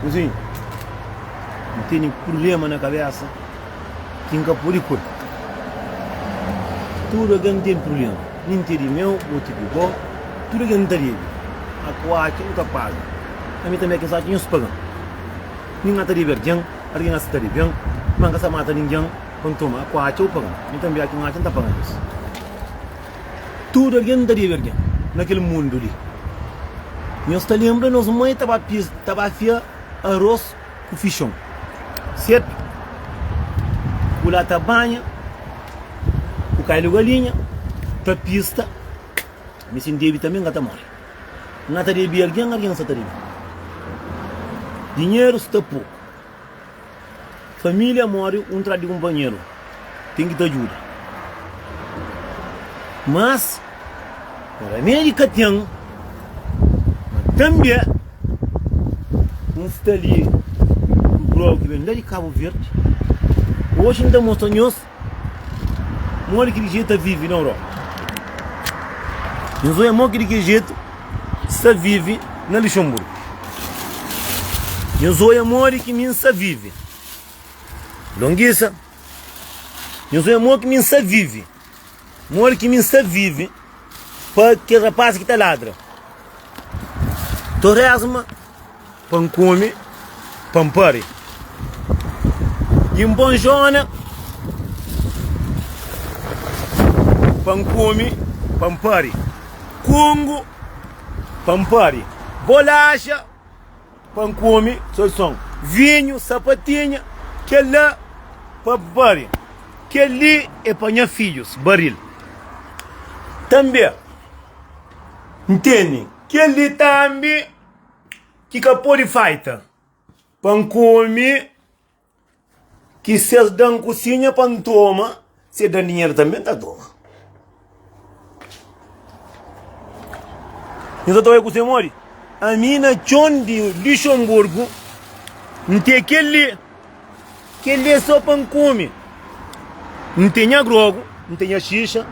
Kuzinha, N tene purblema na kabésa ki N ka pode kura. Tudu algen ten purblema, nin ti é di meu ô ti di bo. Tudu algen ta debe, a ku atxa bu ta paga. Ami tanbe kes atxa nhos paga-m. Nin N ta debe algen, algen a si ta debe-m. Má N ka sta mata ningen pa N toma, a ku atxa bu paga-m, ami tanbe a ki N atxa N ta paga nhos. Tudu algen n ta debe algen na kel mundu li. Nhos ta lenbra nos mai ta ba pia, ta ba fia aros ku fixon, sertu? Bu la ta banha, bu kai lu galinha, ta pista, mi si n debe tanbe n ka ta mori. N na ta debe algen, algen sa ta debe mi. Dinheru sta poku. Família móre un tras di kunpanheru, ten ki ta djuda. Mas, remedi ka ten, ma tanbe N sta li ku Grow ki ben la di Kabu Verdi. Oji N ta mostra nhos Modi ki di jetu ta vivi na Europa? Nhos oja modi ki di ki jetu sta vivi na Luxemburgo. Nhos oja modi ki mi N sta vivi longuisa. Nhos oja modi ki mi N sta vivi. Modi ki mi N sta vive pa kes rapás ki ta ladra? To résma pa N kome, pa N pare i N bonjona pa N kome, pa N pare kongo, pa N pare bolaxa. Pa N kome so son. Vinhu, sapatinha, kel-la pa Bária. Kel-li é pa nha fidjus, baril. Tanbê, N tene kel-li tanbe ki ka pode falta pa N kome Ki ses dan kusinha pa N toma, si e dan dinheru tanbe N ta toma. N sa ta bai ku se modi? Ami na txon di Luxemburgo, N ten kel-li, kel-li é sô pa N kume. N ten nha grogu, N ten nha xixa,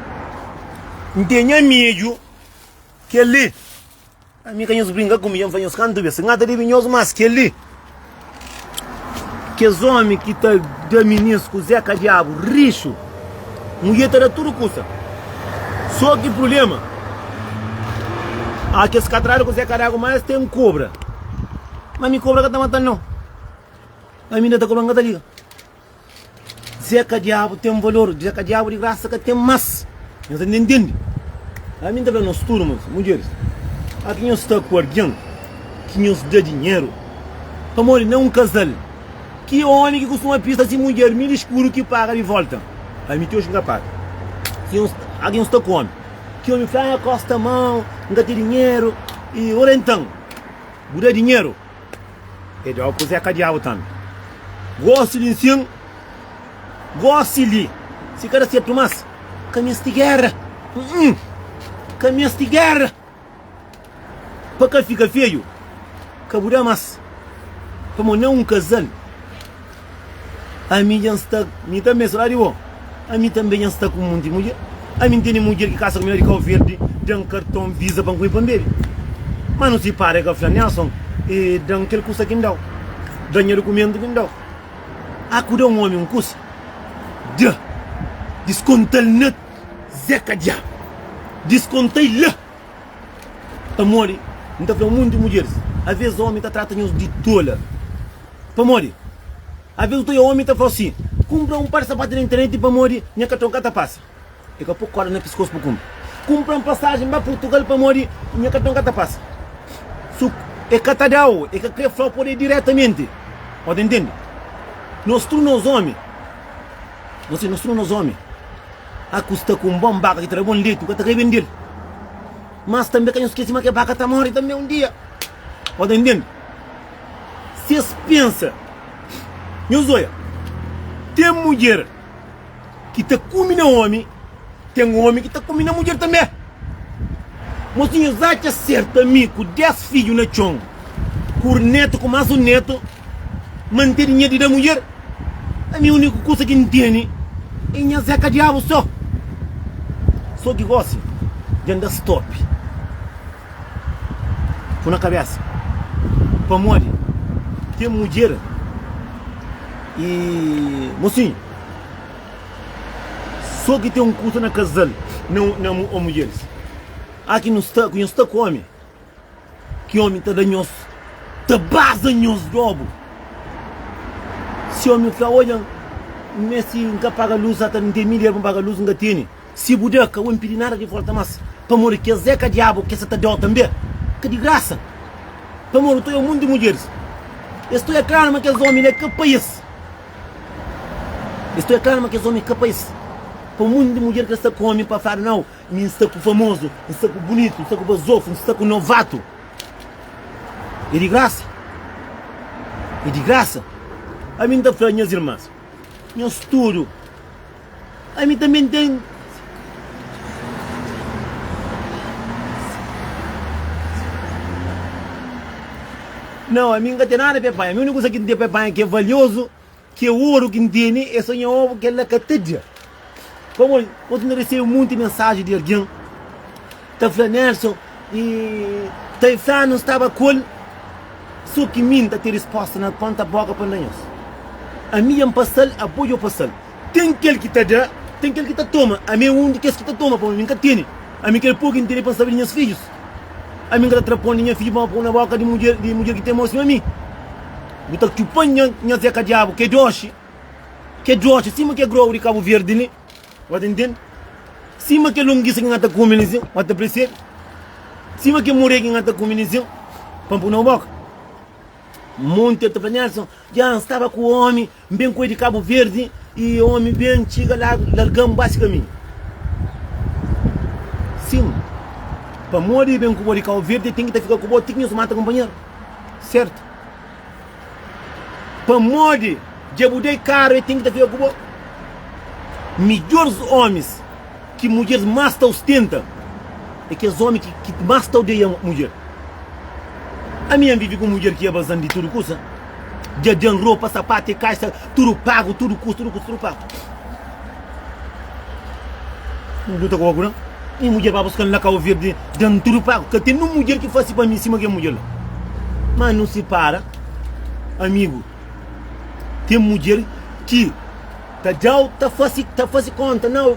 N ten nha midju, kel-li. Ami ka nhos brinka ku mi, dja N fla nhos kantu bes, N ka ta debe nhos más kel-li. Kes ómi ki ta da minins kuzê ka Diabu rixu. Mudjer ta da tudu kusa. Sô ki prubléma a kes katradu kuzê ka daba, má es ten kobra. Má ami kobra ka ta mata-l nau. Ami inda ta kobra, N ka ta liga. Dze ka diabu ten valor, dze ka diabu di grasa ka ten mas nhos ta ntende. Ami nta fla nos tudu mas mudjeris a ki nhos sta ku algin ki nhos da dinheru pamodi na un kazal ki omi ki kustuma pista si mudjer mi diskubru ki paga di volta ami ti oji ki ka paga ki nhos a ki nhos sta ku omi ki omi fla ah kosta mau nka ti dinheru i ora entan bu da dinheru E djobe kuzé ka diabu tantu gosi di nsin gosi li si kada setu mas ka mesti guerra uh-uh ka mesti guerra pa ka fika feju ka bu da mas pamo na un kazal. Ami dja N sta, mi tanbe N sta lado di bo, ami tanbe dja N sta ku monti mudjer, ami N tene mudjer ki kasa ku mi la di Kau Verdi, da-m karton Visa pa N kume pa N bebe, ma nu sipara, e ka fla Nelson, e da-m kel kusa ki N da-u, da-m nha dukumentu ki N da-u, a ku da un omi un kusa, dja, diskonta-l na, Zeka dja, diskonta-i la! Pamodi N ta fla monti mudjeris, Avês ómi ta trata nhos di tola. Pamodi Avês otu é ómi ta fla-u sin, Kunpra un par di sapatu na internet pamodi nha katron ka ta pasa. E ka pô kórda na piskósu pa kunpra. Kunpra un pasajen ba Purtugal pamodi nha katron ka ta pasa. So ku e ka ta da-u, e ka krê fla-u pode diretamenti. Ô ta intende? Nos tudu nos ómi, nos tudu nos ómi. A Ku sta ku un bon baka ki ta da bon leti, bu ka ta kai bende-l. Mas tanbe ka nhos skese ma kel baka ta móre tanbe un dia. Bo ta ntende? Si es pensa. Nhos oja, ten mudjer ki ta kume na ómi, ten ómi ki ta kume na mudjer tanbe. Mosinhus atxa serta mi ku dés fidju na txon ku un netu ku más un netu mante dinheru di da mudjer ami uniku kusa ki nteni é nha zé kadiabu so so ki gosi dja nda stopi ku na kabesa pamodi ten mudjer y mosinhu So ki ten un kusa na kazal na na o mudjeris a ki nu sta ku nhos ta kome ki omi ta da nhos ta baza nhos dobu si omi fla odja n mesti n ka paga lus ata n ten mil ierba n paga lus n ka tene Si bu da, ka bu inpidi nada di volta mas. Pamodi ki es é ka diabu ki es sa ta dau tanbe? Ka di grasa. Pamodi tu é omun di mudjeris. Es tu é klaru ma kes omi la ka pa es. Es tu é klaru ma kes omi ka pa es. Pa omun di mudjer ki el sta ku omi pa fadu, nau, mi N sta ku famozu, N sta ku bunitu, N sta ku bazofu, N sta ku novatu. É di grasa. É di grasa. Ami N ta fla nhas irmas, nhas tudu. Ami tanbê N ten. Nau, ami N ka ten nada pa e panha. Mi úniku kusa ki N ten pa e panha ki é valiozu, ki é oru ki N tene, é so nha obu. Kel-la ka ta dja. Pamodi otu N resebe monti mensaji di algen ta fla, Nelson, i ta e fla nu staba ku el. So ki mi N ta ten respósta na ponta bóka pa N da nhos. Ami dja N pasa-l, abo dja bu pasa-l. Ten kel ki ta da, ten kel ki ta toma. Ami é un di kes ki ta toma, pamodi mi N ka tene. Ami krê pô-u ki N tene pa N sabe di nhas fidjus. Ami N ka ta tra pon di nha fidju pa N pô-u na bóka di mudjer, di mudjer ki ten amor sima mi. Bu ta txupa nha, nha zeka diabu, ki é doxi, ki é doxi sima kel grogu di Kabu Verdi li, bo ta ntende? Sima kel longisa ki N ta kume li sin, bo ta presebe? Sima kel moré ki N ta kume li sin, pa N pô-u na bu bóka. Monti el ta fla, Nelson, dja N staba ku omi. N ben ku el di Kabu Verdi y omi ben txiga la larga-m ba si kaminhu. Sin, pamodi i ben ku bo di Kabu Verdi, el ten ki ta fika ku bo ti ki nhos mata kunpanheru. Sertu. Pamodi dja bu da-i karu, el ten ki ta fika ku bo. Midjoris omis ki mudjeris mas ta ustenta e kes omi ki mas ta odeia mudjer. Ami N vivi ku un mudjer ki é bazan di tudu kusa. Dja den ropa, sapatu e kaixa tudu pagu, tudu kustu, tudu kustu, tudu pagu. N luta ku ogu na mi mudjer ba buska-m la Kau Verdi den tudu pagu. Ka ten un mudjer ki fasi pa mi sima kel mudjer la. Ma nu sipara, amigu. Ten mudjer ki ta djau, ta fasi, ta fasi konta, nau.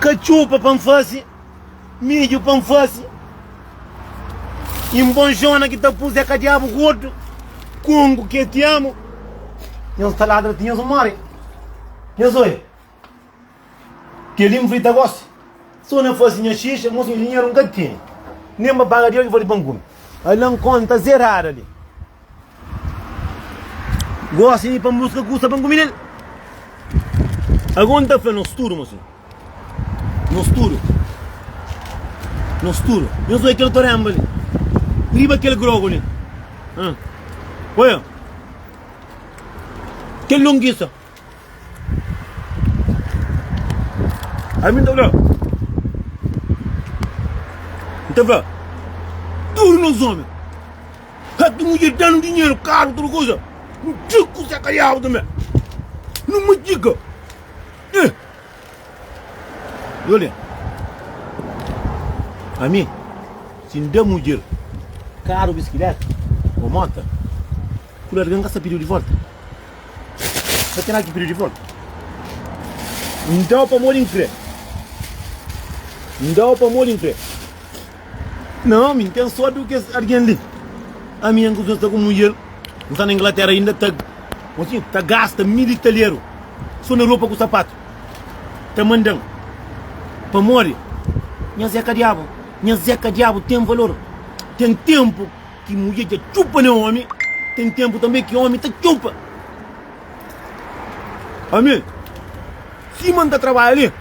Katxupa pa N fase, midju pa N fase i N bon xona ki ta puse ka diabu gordu kongu ke ti amu nhos ta ladra ti nhos more nhos oia keli N frita gosi so na fase nha xixa mos nha dinheru N ka tene nen ba paga di oji fo di pa N kume ala N konta zerada li. Gosi di pa muska kusa pa N kumida el. Ago N ta fla nos tudu, mosinhu. Nos tudu. Nos tudu. Nhos oi kel korenba li? Riba kel grogu li? Ãh. Oiô. Kel longisa. Ami nta fla, nta fla tudu nos omi ka ki nu dja danu dinheru, karu, tudu kuza, nu txi ku se kaliabu tambi, nu matxika e Dole, ami si nda mudjer karu, biskileta o mota. Kula algen ka sta pidiu di volta? Ka ten algen pidiu di volta? N dau pamodi N kre. N dau pamodi N kre. Na ami N ten sodi ku kes algen li. Ami N kuzuma sta ku mudjer. N sta na Inglatera inda ta kontinua ta gasta mil i talheru so na ropa ku sapatu. Ta mandan. Pamodi nhas é ka diabu. Nhas é ka diabu ten valor. Ten tenpu. Ki mudjer dja txupa ne omi ten tenpu tanbe ki omi ta txupa ami sima n ta trabadja li n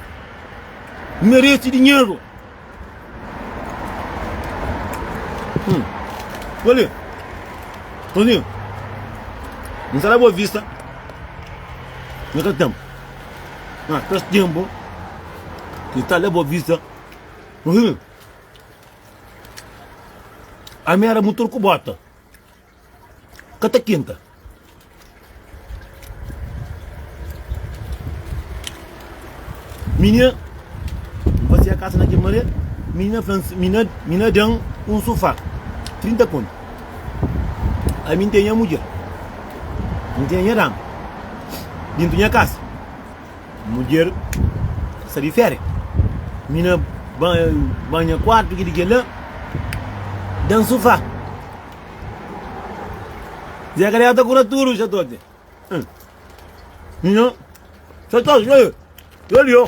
meresi dinheru hum koli tonzinho n ta da bo vista na kel tenpu na kes tenpu ki ta da bo vista tonzinho Ami era mutur ku bota ka ta kinta. Minha N fazia kasa na kel mare, minha fla minha minha dan un sofá 30 kontu. Ami n ten nha mudjer, n ten nha dama dintu nha kasa. Mudjer sta di férias. Mina banha kuartu ki di kela da un sufá. Zé Kariá ta kura tudu xatote. Mina xatote, yo li, yo li, yo.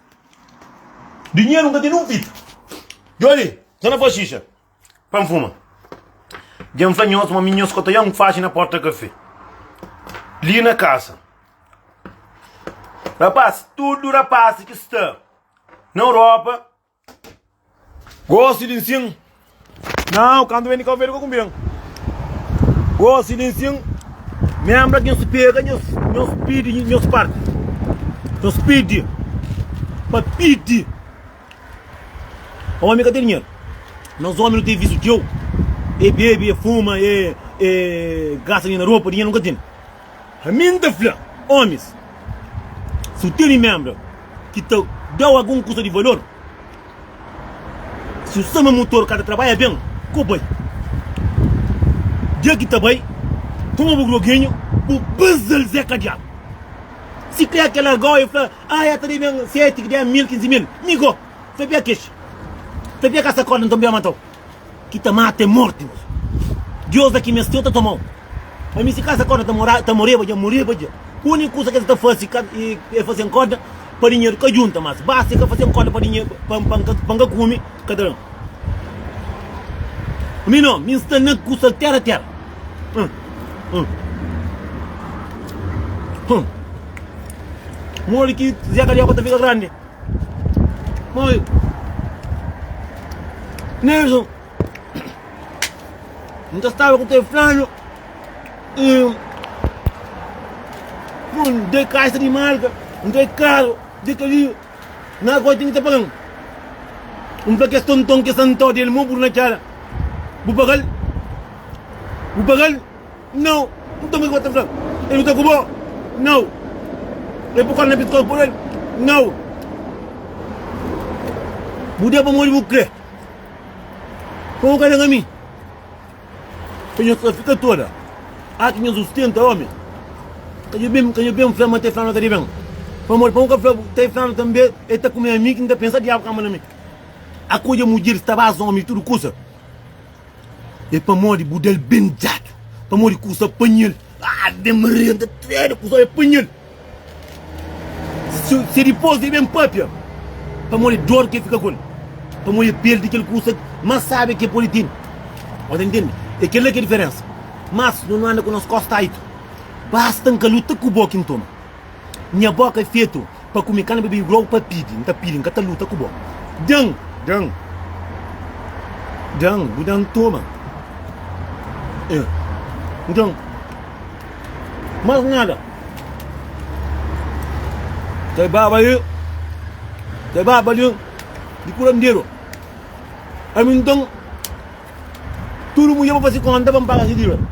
Dinheru n ka tene un fita. Djoli, N ka na faze xixa pa N fuma. Dja N fla nhos ma mi nhos ka ta jan faxi na porta kafé li na kasa. Rapaz, tudu rapaz ki sta na Europa. Gosi di nsin Nau kantu ben di Kabu Verdi ka kunbren Gosi di nsin Menbra ki nhos pega nhos nhos pidi nhos parti Nhos pidi pa pidi Omi ka ten dinheru Nos omi no ten visu txeu E bebe e fuma e e gasta dinheru na ropa dinheru nu ka ten. Ami N ta fla omis, si bu tene menbra ki ta da-u algun kusa di valor, si bu sta ma mutor ka ta trabadja ben, ka bu bai. Dia ki ta bai, toma bu droginhu, bu baza-l Zé Kadiatu. Si kre ke larga-u, el fla, Ah, ya ta debe-m seti, ki debe-m mil, kinzi mil. Mi go, fla pia kixi, fla pia ka sa korda, nton pia mata-u. ki ta mata é morti nos Deus da ki mes txeu ta toma-u pa mi si ka es akorda ta mora ta moreba dja moreba dja úniku kusa ki es ta fase ka é fase N korda pa dinheru ka djunta mas basta i ka fase N korda pa dinhe pa pa pa N ka kume ka ta da-m mi no mi N sta na ku soltera tera modi ki Zé Karióka ta fika grandi. Mãe! Nilson! N ta staba ku teu flanu i pui un dei kaixa di marka, un dei karu di kali na agora tene ki ta paga-m. N fla kes tonton, kes antau del, mô buru na kera, bu paga-l? Bu paga-l? Nau, nton kiko ta fla? E luta ku bo? Nau, e pukal na pitkol por el? Nau, bu da pamodi bu kre. Pa bu ka nega mi. Ka nhos ta fika toda aki nhos sustenta omi? Ka nho ben, ka nho ben fla ma ta e flanu ta di ben. Pamodi pa bu ka fla bu ta e flanu tanbe e ta kume ami ki n ta pensa diabu kamba na mi. Akoja mudjer sta basa omi di tudu kusa. É pamodi bu da-l ben djadu Pamodi ku sa panha-l Aa ben maria N ta trena ku sa e panha-l Si si dipos e ben papia Pamodi dor ke fika ku-l Pamodi e perdi kel kusa mas sabe ke pode tene Bo ta ntende? E kel-la ke diferensa Mas no no anda ku nos kos taitu Basta N ka luta ku bo ki N toma. Nha boka é fetu pa kume kana bebe igual pa pidi nta pidi nka ta luta ku bo dan dan dan bu dan toma eh bu dan mas nada te baba e te baba de de kuranderu ami ntan Tudu mudjer pa fazi konta pa N paga se díveda.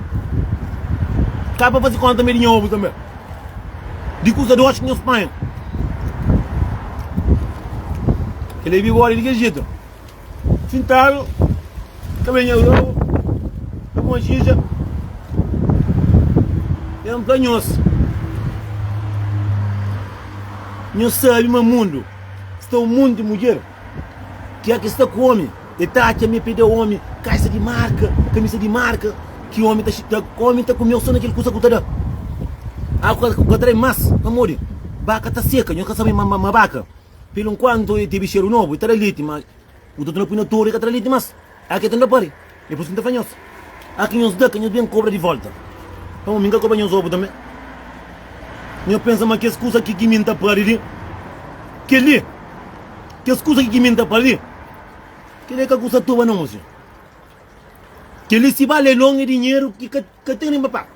Ka pa fazi konta mé di nha obu tanbe, di kusa dox ki nhos panha. Kel ebi bódi di kel jetu, sintadu ta ben nhos obu, ta puma xixa i N fla nhos, Nhos sabi ma mundu sta un monti mudjer ki é ki sta ku omi. E ta atxa mi pede omi kalsa di marka, kamisa di marka, ki omi ta xita, omi ta kumeu so na kel kusa ku ta da. Agu ku ka trai mas, pamodi baka ta seka, nhos ka sabe ma ma baka pelu nkuantu e tebi xeru nobu, e ta da leti, ma utatu na pui na toru, e ka ta da leti mas, ake ta nda pari, e pui si N ta fla nhos. A ki nhos da, ka nhos ben kobra di volta. Pamó mi N ka kobra nhos obu tanbe. Nhos pensa ma kes kusa ki ki mi N ta pâdi li, kel-li, kes kusa ki ki mi N ta pâdi li, kel-li é ka kusa toba nau, mô senhor. Kel-li si bale longe dinheru ki ka ka ten nen pa paga.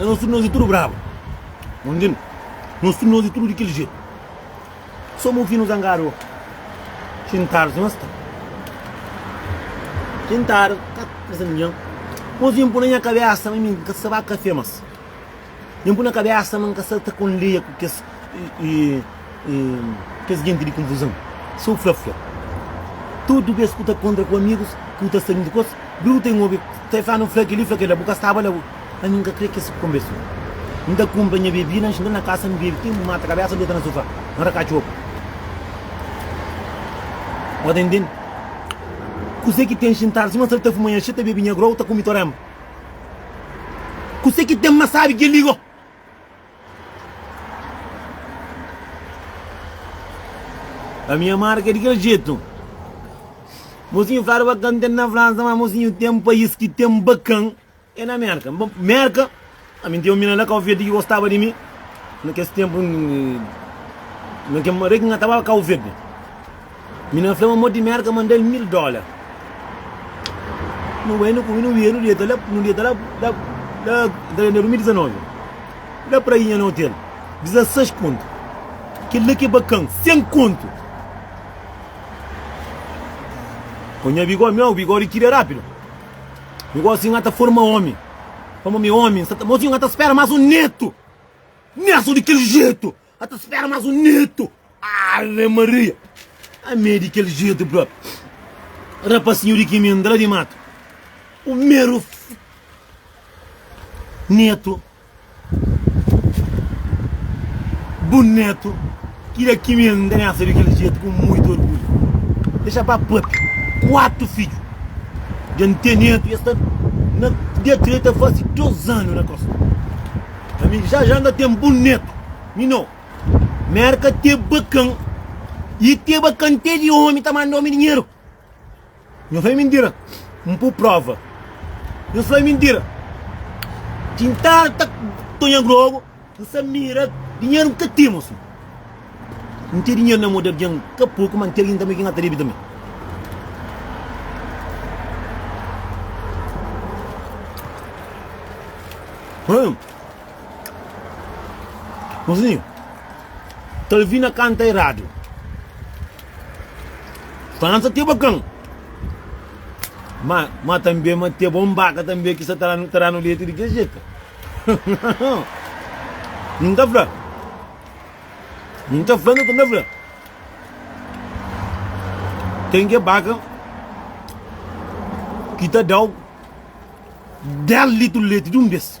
É nos tudu, nos é tudu brabu Nos intende? Nos tudu, nos é tudu di kel jetu Sô mon finu zangadu ô xintadu si masta Xintadu, ka ta trese ningen Mô si N pô na nha kabesa ma mi N ka ta sa ba kafé mas. Nhu pui na kabesa ma N ka sta ta kondeia ku kes kes genti di konfuzon. Sô N fla fla. Tudu bes ku ta kontra ku amigus ki bu ta sta djuntu ku es, bru ta inhobi ta fla nu fla kel-li, fla kel-la. Bu ka staba la bo. Ami N ka kre kes konverson. N ta kunpra nha bebida, N xinta na kasa, N bebe ti N mata kabesa, N deta na sofá, N raka txoku. Bu ta intende? Kuzê ki ten xintadu sima sal ta fuma nha xixi, ta bebe nha grau, ta kume toranba. Kuse ki ten ma sabi ki el liga-u? Pa mi amada ka di kel jetu. Mosinhu fladu ba ka ten na Fransa ma mosinhu ten pais ki ten bakan e na Merka. Merka Ami n tiomi na la kau verdi ki gostaba di mi na kes tempu na ke mare ki na tava kau verdi mi na fla ma modi mi era ka mandal mil dola no bai no kumi no wiedu dieta la no dieta la la la da na 2019 la prainha na hotel 16 pontu kel la ke bakan 100 kontu ku nha bigodi mi au bigodi tira rapidu mi gosi ngata forma omi Pamo mi omi, nsa ta Mozinho nha ta spera mas un neto Nha so di kel jeito nha ta spera mas un neto Ave Maria Amei di kel jeito bro Rapasinho di kiminda la di mato Primeiro Neto Bun neto, ki da ki mel n ta miasa di kel jetu ku muitu orgulhu. Dexa ba pape, kuatu fidju dja n ten neto i es ta na dia ki el ta fase dos anu na kosta. Ami ki ja-ja n ta ten bun neto, mi no. Merka te bakan i te bakan te di omi ta manda omi dinheru. Nhos fla é mintira, N pô prova Nhos fla é mintira Tintadu ta tonha grogu N sa mira dinheru N ka timo si N ten dinheru na mô di algen ka poku ma N ten algen tanbe ki N ka ta debe tanbe Hum Nhos fla mi Kalvina kanta eradu Pansa ti é bakan ma ma tanbê ma ti é bon baka tanbê ki sa ta da ta da-nu leti di kes jetu N ta fla N ta fla N ta fla ten ke baka ki ta da-u 10 litru leti di un bes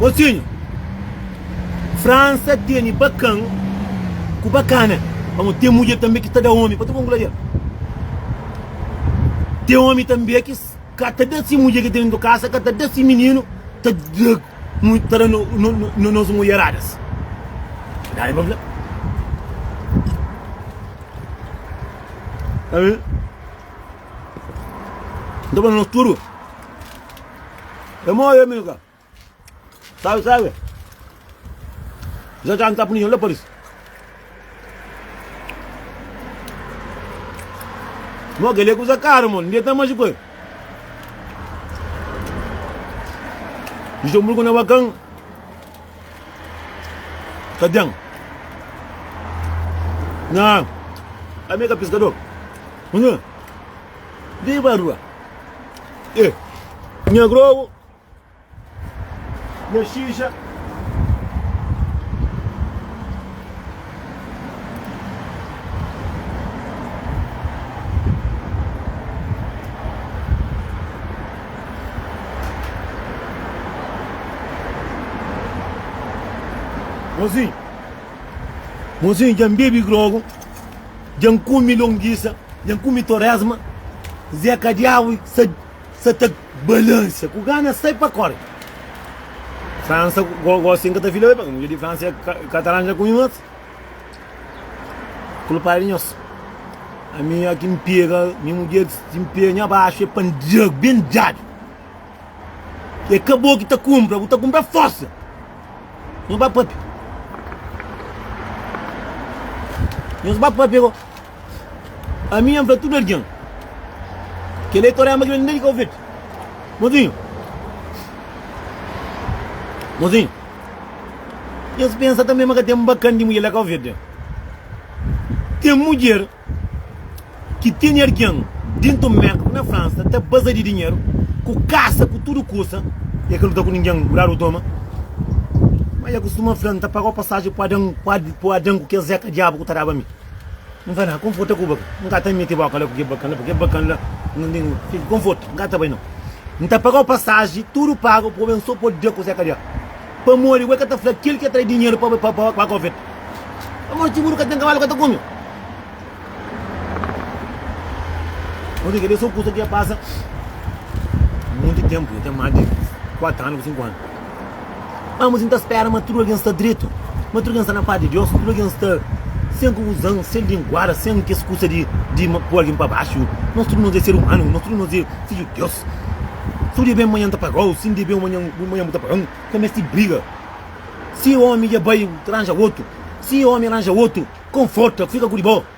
Mosinhu, Fransa tene bakan ku bakana, pamodi ten mudjer tanbe ki ta da omi pa ta bon gladial. Ten omi tanbe ki ka ta da si mudjer ki ten dentru kasa, ka ta da si mininu, ta da ta da nos mudjeradas. Verdadi pa fla. Ka bin? Nta ba nos tudu É mo é amiga Sabe, sabe Já já nta puniña la Paris Mo que ele coisa cara, mano. Ninguém tá mais de coisa. Luxemburgo não é bacana. Ka den. Nan. Ami ka piskador. Nhã. Di ba rua. E. Nha grogu. Nha xixa. Mozinho, mozinho dja N bebe grogu, dja N kume longisa, dja N kume toresma, Zé Kadiabu sa sa ta balansa ku gana sai pa kore. Fransa, gosi N ka ta fila be, pabia mudjer di Fransa e Katalan dja kume mos. Kulpadu nhos. Ami a ki N pega nha mudjer si N pega nha baxu e pandiagu ben djadu. E ka bo ki ta kunpra, bu ta kunpra forsa. Nhos ba papia. Nhos ba papia ko. Ami nha fla tudu algin. Kela e torema ki ben desdi Kau Verde. Mozinhu. Mozinhu. Es pensa tanbe ma ka ten bakan di mudjer la ka ouvir de. Ten mudjer ki tene argen dentu un merka ku na Fransa ta baza di dinheru ku kasa ku tudu kusa e ka luta ku ningen ku dadu toma. Ma e kustuma fla, N ta paga-u pasaji pa Adan, pa Adan ku kes zeka diabu ku ta daba mi. N fla, Kon fota ku baka? N ka ta mete boka la ku kel bakan la, pa kel bakan la fika. Kon fota, N ka ta bai nau. N ta pagau pasaji, tudu pagu, pabia N so podi dia kuzé ka dia. Pamodi bu é ka ta fla kel ki atrai dinheru pa pagau feta? Pamodi txiguru ka ten kabalu ka ta kume? Pamodi kel-li é so kusa ki dja pasa munti tenpu, dja ten más di kuatu anu ku sinku anu. Anbos N ta spera ma tudu algen sta dretu, ma tudu algen sta na paz di Deus, tudu algen sta sen konfuzon, sen linguada, sen kes kusa di pui algen pa baxu. Nos tudu nos é ser umanu, nos tudu nos é fidju di Deus. Si bu debe-m, manhan N ta paga-u, si N debe-u, manhan bu ta paga-m. N ka meste briga. Si omi dja bai, bu ta ranja otu, si omi ranja otu, konforta, fika ku di bo.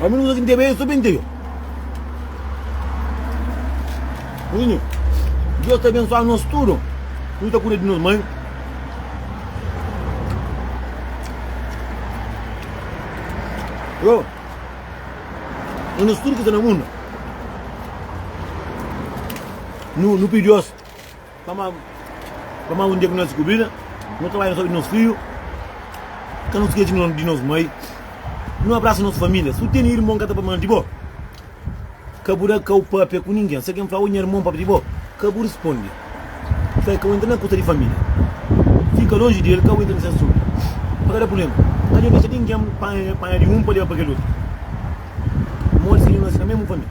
Ami nu uza ki ntebe so pa inteio. Ozinho, Deus ta abensua nos tudo. Nu ta kuda di nos mãe. Yo, e nos tudo ki sta na mundo. Nu, nu pidi Deus Pamodi un dia ki nos diskubrida nos trabadju na saúdi di nos fidju, ka nos skeci di nos mai. Nu abrasa nos família. Si bu tene irmon ki ka ta fla mal di bo, ka bu da kau pâpia ku ningen. Si algen fla, Ô, nha irmon pâpia di bo, ka bu responde. Fla-l ka bu entra na kusa di família. Fika lonji di el, ka bu entra na se asuntu. Pa ka da prubléma, ka dja dexa ningen panha di un pa leba pa kel otu. Modi si nu na sina mésmu família?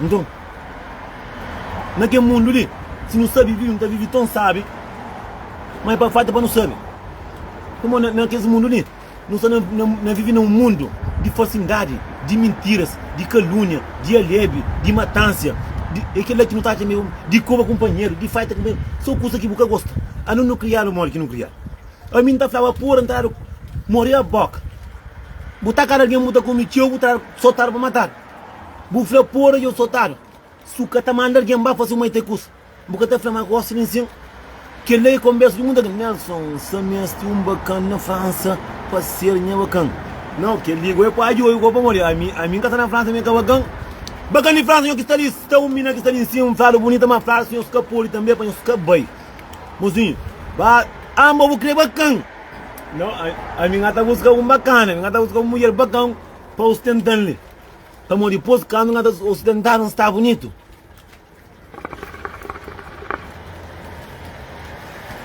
Nton, na kel mundu li, si nu sabe vive, nu ta vive ton sábi, má é pa falta pa nu sabe. Suma na, na kes mundu li, nu sta na, na, na vive na un mundu di falsindadi, di mintiras, di kalúnia, di alebe, di matánsia, di, é kel-la ki nu ta atxa mê, di koba kunpanheru, di faita kunpanheru, sô kusa ki bu ka gosta. Anun nu kria-lu modi ki nu kria-l? Ami N ta flaba, Pura, N ta dadu, Moria bóka, bu ta kada algen, bu ta kume txeu, bu ta dadu. Sotadu pa matadu. Bu fla pura dja sotadu. Su ka ta manda algen ba fasi un mai ta kus bu ka ta fla ma gosta di nsin. Kela e konbersa di muita algen. Nelson sa mesti un bakan na Fransa pa ser nha bakan. Nau kel li go e pua djoju go pamodi ami ami n ka sta na Fransa mi ka bakan. Bakan di Fransa nho ki sta li sta un mina ki sta di nsin un fladu bunita ma fladu si nhos ka podi tanbe pa nhos ka bai. Mozinhu ba amba bu kre bakan. Nau ami n ka ta buska un bakan ami n ka ta buska un mudjer bakan. pa ostentan-li, pamodi dipôs kandu N ta ostentan-l, N sta bunitu.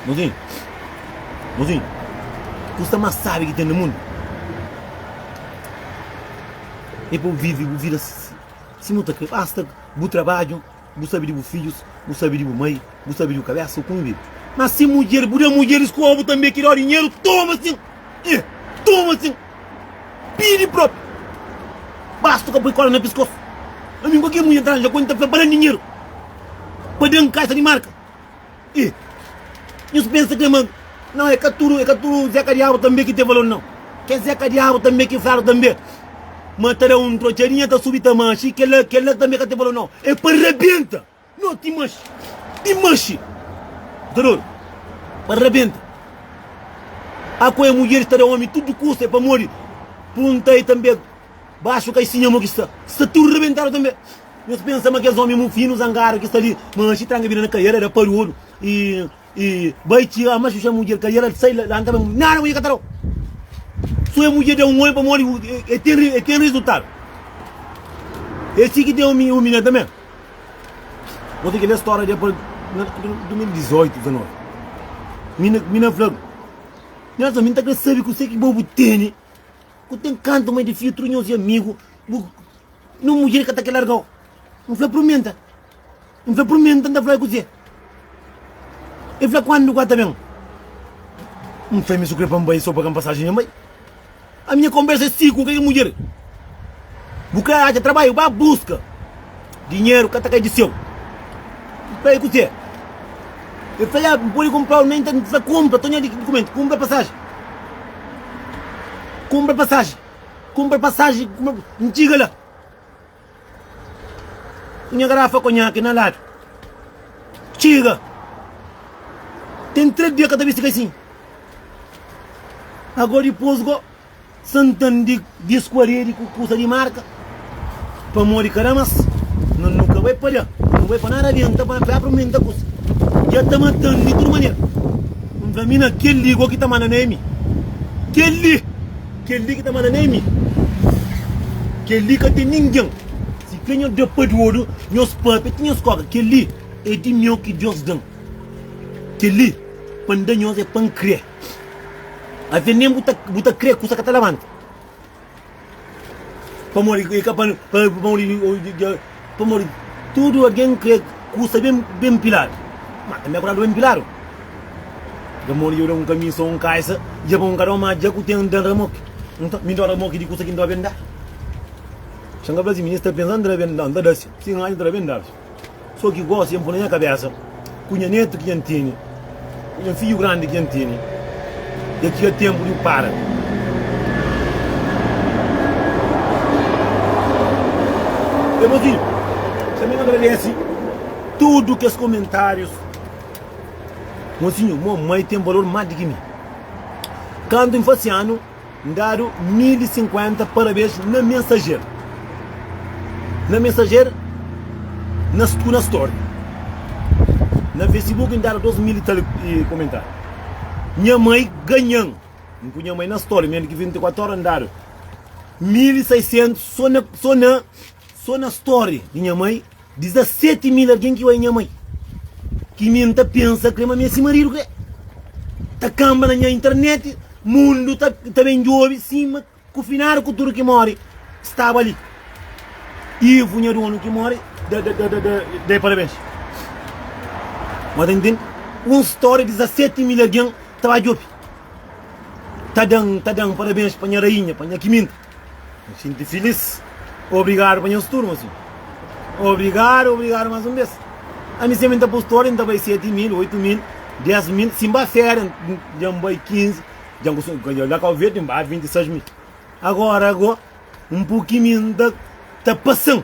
Mozinhu, mozinhu, kusa más sábi ki ten na mundu é pa bu vive bu vida sima bu ta krê. Basta bu trabadju. Bu sabe di bu fidjus, bu sabe di bu mai, bu sabe di bu kabesa, o kume bebe. Mas si mudjer, bu da mudjeris ku obu tanbe ki da dinheru, toma sin! Eh! Toma sin! Pidi propi! Basta o ka poi kola na piskos. Ami, kualker mudjer ta ranja konta pa ba dan dinheru, pa dan kaixa di marka. E nhos pensa kê ma nau é ka tudu é ka tudu zeka diabu tanbê ki tê valor nau kê zeka diabu tanbê ki fladu tanbê ma ta da un trotxadinha ta subi ta maxi kela kela tanbê ka tê valor nau é pa rabenta nau ti maxi ti maxi ta dodu pa rabenta akua é mudjeris ta da omi tudu kusa é pamodi punta e tanbê baxu ka e sinha mo ki sta sta tudu rabentadu tanbê. Nhos pensa ma kes omi mufinu, zangadu ki sta li manxi tranga bida na kaiera da paruodu y y bai txi ama xuxa mudjer kaiera da sai lanta bai mudjer nada mudjer ka ta dau so e mudjer da un oi pamodi e ten e ten rizultadu e si ki ten omi omi na tambe bo ten ki le storia de pa na 2018 19 mi na mi na flabu nhas ami nta kre sabi kuse ki bo bu teni ku ten kantu mai di filtru nhos e amigu bu. Nu mudjer ka ta ke largau N fla prumenta N fla prumenta N ta fla-i kuzê E fla kuandu ku el ta ben N fla mi su kre pa N bai so pa ka-m pasajen dja N bai A minha konbersa é siku ku kel mudjer Bu kre atxa trabaiu ba buska Dinheru ka ta kai di seu N fla-i kuzê E fla ya N podi kunpra-u N fla kunpra tonha di dukumentu Kunpra pasajen Kunpra pasajen Kunpra pasaji ma N txiga la Ku nha garafa konhaki na ladu Txiga Ten tres dia ka ta bisti kaisin Ago dipos go Santan di dias ku aredi ku kusa di marka Pamodi ka da más Nos nu ka bai padja Nu bai pa nada adienta Pa na pé apre menta kusa Dja ta matan di tudu manera N fla mi na kel-li Go ki ta manda na emi Kel-li Kel-li ki ta manda na emi Kel-li ka ten ningen Si ke nhos da pa diodu Nhos pape ti nhos koka Kel-li e di meu ki Dios da-m Kel-li pa N da nhos e pa N kre Avé nen bu ta kre kusa ka ta labanta. Pamodi i ka pa pamodi pamodi tudu algen krê kusa ben ben piladu. Ma tanbê akuradu ben piladu. Da modi dja da un kamisa un kaisa dja pa un kada un ma dja ku ten da ramoki. Nta mi ta ramoki di kusa ki nta ben da. Xanga fla si mi sta pensa nta da ben da nta da si. Si nhaja nta da ben da. So ki gosi N pô na nha kabésa Ku nha nétu ki dja N tene Ku nha fidju grandi ki dja N tene Dja txiga ténpu di bu para. Ê mozinhu Tanbê N agradese tudu kes komentárius Mozinhu, mon mai ten balor más di ki mi Kantu N fase anu N dadu mil i sinkuenta parabes na Mensager, na Mensager na ku na Story. Na Facebook N dadu dos mil i tal komentariu. Nha mai ganha-m, N pui nha mai na Story, mel ki 24 óra N dadu mil i saisentus so na, so na. Sô na story di nha mai 17 mil algen ki oi nha mai ki mi nta pensa kre ma mi é si marido kre ta kanba na nha internet mundu ta ta ben djobi sima ku finado ku tudu ki mori staba li ivo nha donu ki mori da da da da dai parabens ma ta ntende un story 17 mil algen ta ba djobi ta dan ta dan parabens pa nha rainha pa nha kiminta N xinti filís. Obrigadu pa nhos tudu, mosinhu. Obrigadu, obrigadu más un bes. Ami senpri N ta pus tóde, N ta bai seti mil, oitu mil, des mil. Si N ba féria, dja N bai kinzi, dja N kos-, dja la Kau Verdi N ba vinti sais mil. Agora go, un puki mi N ta, ta pasa-m.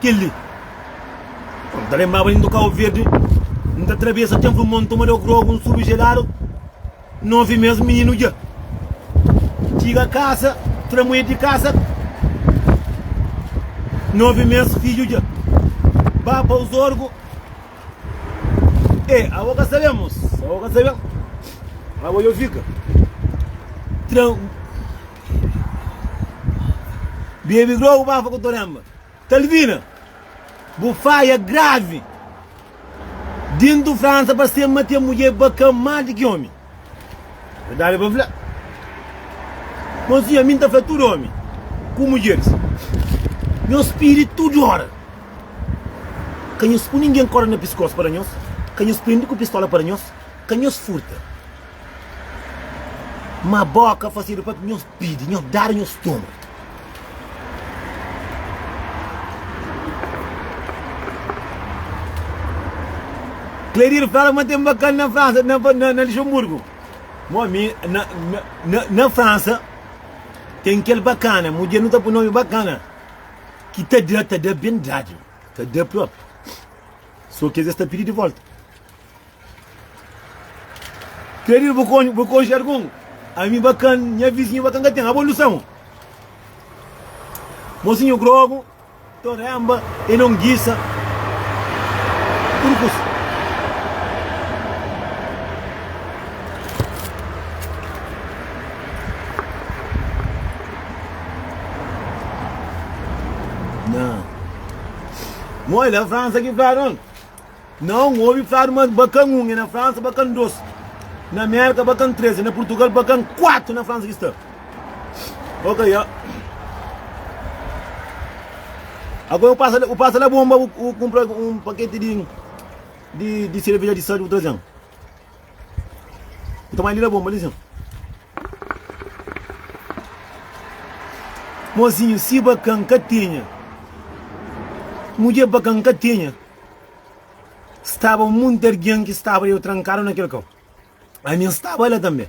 Kel-li. N ta lenbraba di N ta Kau Verdi, N ta trabesa tenpu di monta, mada grogu, N subi jeladu, N obi mes mininu dja txiga kasa, tramuê di kasa, N obi mes fidju dja ba pa Uzorgu. Ê, abo ka sabê, mos. Abo ka sabê. Abo dja fika tran. Bebe drogu pa fa ku torenba. Talvina, bu faia gravi. Dintu Fransa pa sema ten mudjê bakan más di ki omi. Verdadi pa fla, mozinha mi N ta fla tudu omi ku mudjeris nhos pidi tudu ora ka nhos pui ningen korda na piskos pa da nhos ka nhos prendi ku pistola pa da nhos ka nhos furta ma boka fasedu pa nhos pidi nhos dadu nhos toma. Claire fla ma ten bakan na Fransa, na na Luxemburgo. Mo mi na na na Fransa ten kel bakana, mudjer nu ta pun nomi bakana, ki ta da ta da ben dadu, ta da propi. So ki es sta pidi di volta. Keridu bu kon bu konxe algun? Ami ba kan, nha vizinhu ba kan ka ten. Abo lusa-m. Mosinhu grogu, toremba e longisa. Turkus. Nha. Moi la Fransa ki pra non. Na un obi fladu ma ba kan un e na fransa ba kan dos na merka ba kan tres e na purtugal ba kan kuatu na fransa ki sta ok ya ago u pasa u pasa la bomba u kunpra un paketi di di di sereveja di sadu trazen Nta mai li na bonba li sen Mozinhu si bakan ka tinha Mudjer bakan ka tinha Staba un munti argen ki staba deu trankadu na kel kau Ami N staba la tanbe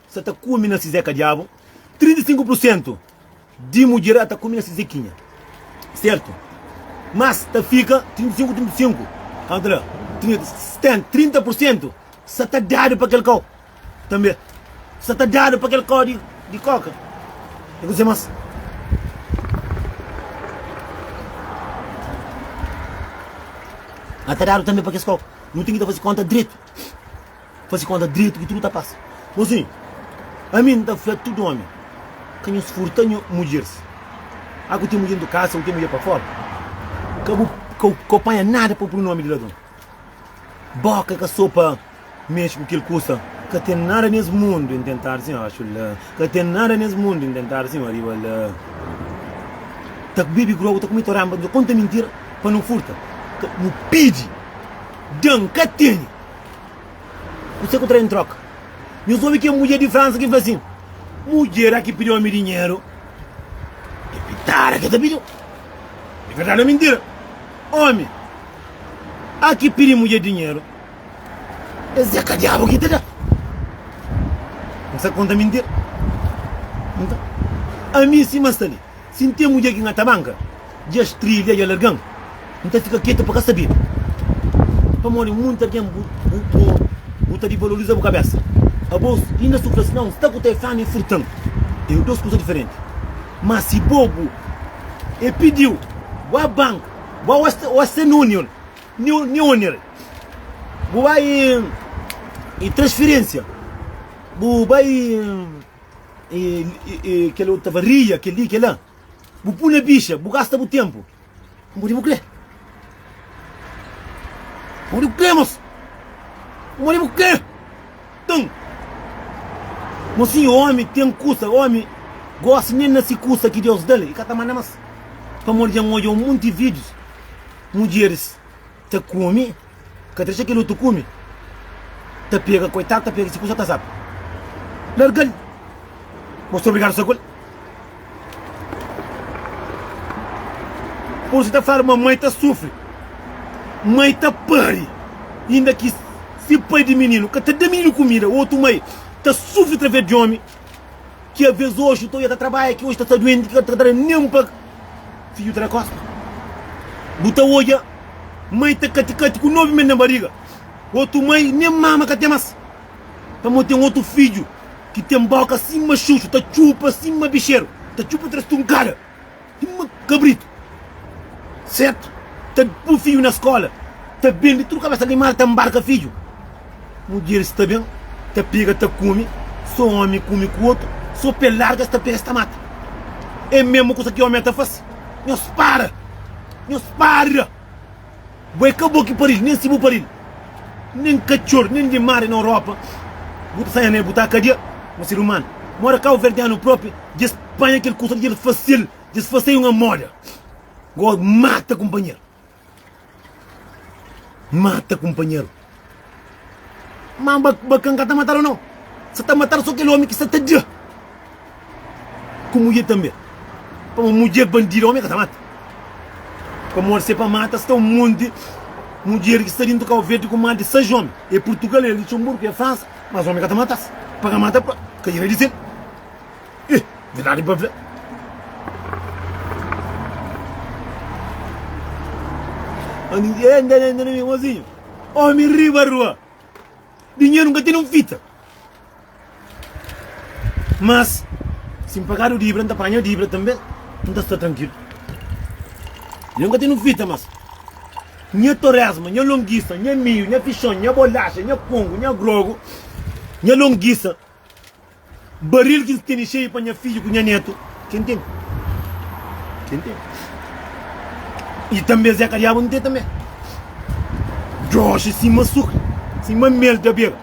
sa ta kume na si zeka diabu, 35 pur sentu di mudjer a ta kume na si zekinha sertu mas ta fika 35 35 kau ta da 30 30 pur sentu sa ta dadu pa kel kau tanbe sa ta dadu pa kel kau di koka e kuzê mas a ta dadu tanbe pa kes kau nu ten ki ta faze konta dretu. Faze konta dretu ki tudu ta pasa Bo sin, ami nta fla tudu omi Ka nhos furta nho mudjers A ku ten mudjer ntu kasa, u ten mudjer pa fora Ka bu ka u panha nada pa pru nomi di ladron Boka ka so pa mexe ku kel kusa Ka ten nada nes mundu en tentar sin abaxu la Ka ten nada nes mundu en tentar sin ariba la Ta bebe grogu, ta kume toranba Nta konta mintira pa no furta Ka bu pidi. Da N ka tene kuse ku tra en troka. Nhos obi kel mudjer di Fransa ki fla sin, Mudjer a ki pidi omi dinheru é pitada ki el ta pidi-u. É verdadi ô mintira? Omi a ki pidi mudjer dinheru, es é ka Diabu ki ta da. N sta konta mintira? Nton, ami sima sta li. Si N ten mudjer ki N atamanka, dja strilha, dja larga-m, N ta fika ketu pa ka sabe. Pamodi munti algen bu ta divaloriza bu kabésa, abos i na sufri asinau. N sta ku ta-i fla-m i furta-m, é dôs kuza diferenti. Má si bo bu e pidi-u, bu a banka, bu a Western Union, Neoneer, bu bai i transfirensia, bu bai. kel otu tava ria kel li kel la bu pu na bixa bu gasta bu tenpu n podi bu kre n podi bu kre mos n podi bu kre nton mo si omi ten kusa omi gosi nen na si kusa ki deus dal e ka ta manda mas pamodi dja n odja un monti videos mudjeris ta kumi ka ta dexa kel otu kumi ta pega koitadu ta pega si kusa ta sal largal bo sta obrigadu sa kul pur si ta fala ma mai ta sufri mai ta pari inda ki si pai di mininu ka ta da mininu kumida otu mai ta sufri traves di omi. Ki avês oxi to ia ta trabadja ki oxi ta sta duenti ki ka ta da nen pa fidju ta da kosta. Bu ta odja mai ta kati-kati ku novi mes na bariga, otu mai nen mama ka ten mas. Pamo ten otu fidju ki ten boka sima xuxu, ta txupa sima bixeru, ta txupa tres tunkada. Uma cabrito certo ta pô fidju na escola ta bendi tudo cabeça de mal ta embarca fidju mudjer sta bem ta pega ta come so homem come com outro so pe larga sta pega sta mata é mesmo cosa que homem ta faz nhos para nhos para. Bo é ka bo ki pari-l, nen si bu pari-l Nen katxor, nen di mari na Europa Bu ta saia na el, bu ta kadia ma ser umanu Mora kauverdianu propi, dja es panha kel kusa Dja el fase-l, dja es fase-i un amoda Goa mata kunpanheru, mata kunpanheru. Má Bakan ka ta matadu nau. Se ta matadu so kel omi ki sta ta dja ku mudjer tanbe. Pamodi mudjer bandida omi ka ta mata. Pamodi se pa mata sta un monti mudjer ki sta dintu kau verdi ku más di sais omi. É Purtugal, é Lutxenburgu, é Fransa. Mas omi ka ta mata-s. Pa ka mata-pa ka dja na di sen. Ih, di ladu pa vê. Andi, eh, anda, anda, anda, anda, mozinho. Omi riba rua. Dinheiro nunca tem um fita. Mas, se pagar o dívida, não apanha o dívida também, não está tranquilo. Eu nunca tenho fita, mas minha torresma, minha longuiça, minha milho, minha fichão, minha bolacha, minha pongo, minha grogo, minha longuiça. Baril ki N tene xeiu pa nha fidju ku nha netu, ken ten? Ken ten? I tanbe Zé ka Diabu N ten tanbe. Doxi sima sukri, sima mel ta beba.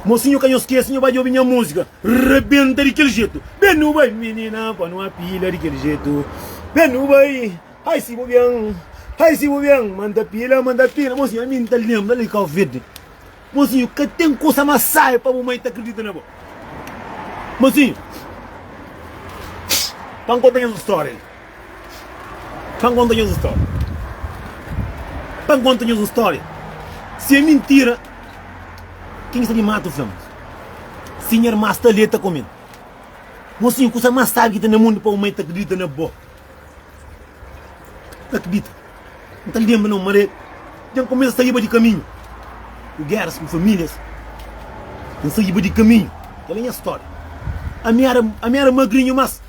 Mosinhu ka nhos skese nho ba djobi nha musika rebenta di kel jetu Ben nu bai minina pa nu apila di kel jetu Ben nu bai ai si bu ben ai si bu ben manda pila manda pila mosinhu ami N ta lenbra li Kau Verde. Mozinho, ka ten kusa más sábi pa bu mai ta kridita na bo. Mozinho, pa N konta nhos un stória li. Pa N konta nhos un stória. Pa N konta nhos un stória. Si é mintira, ken ki sta di matu fla-m. Si nha irma sta li, el ta kome-m. Mozinho, kusa más sábi ki ten na mundu pa bu mai ta kridita na bo. Ta kridita. N ta lenbra na un maré dja N kumesa saiba di kaminhu Ku geras ku famílias N saiba di kaminhu Kel-la é nha stória Ami éra ami éra magrinhu mas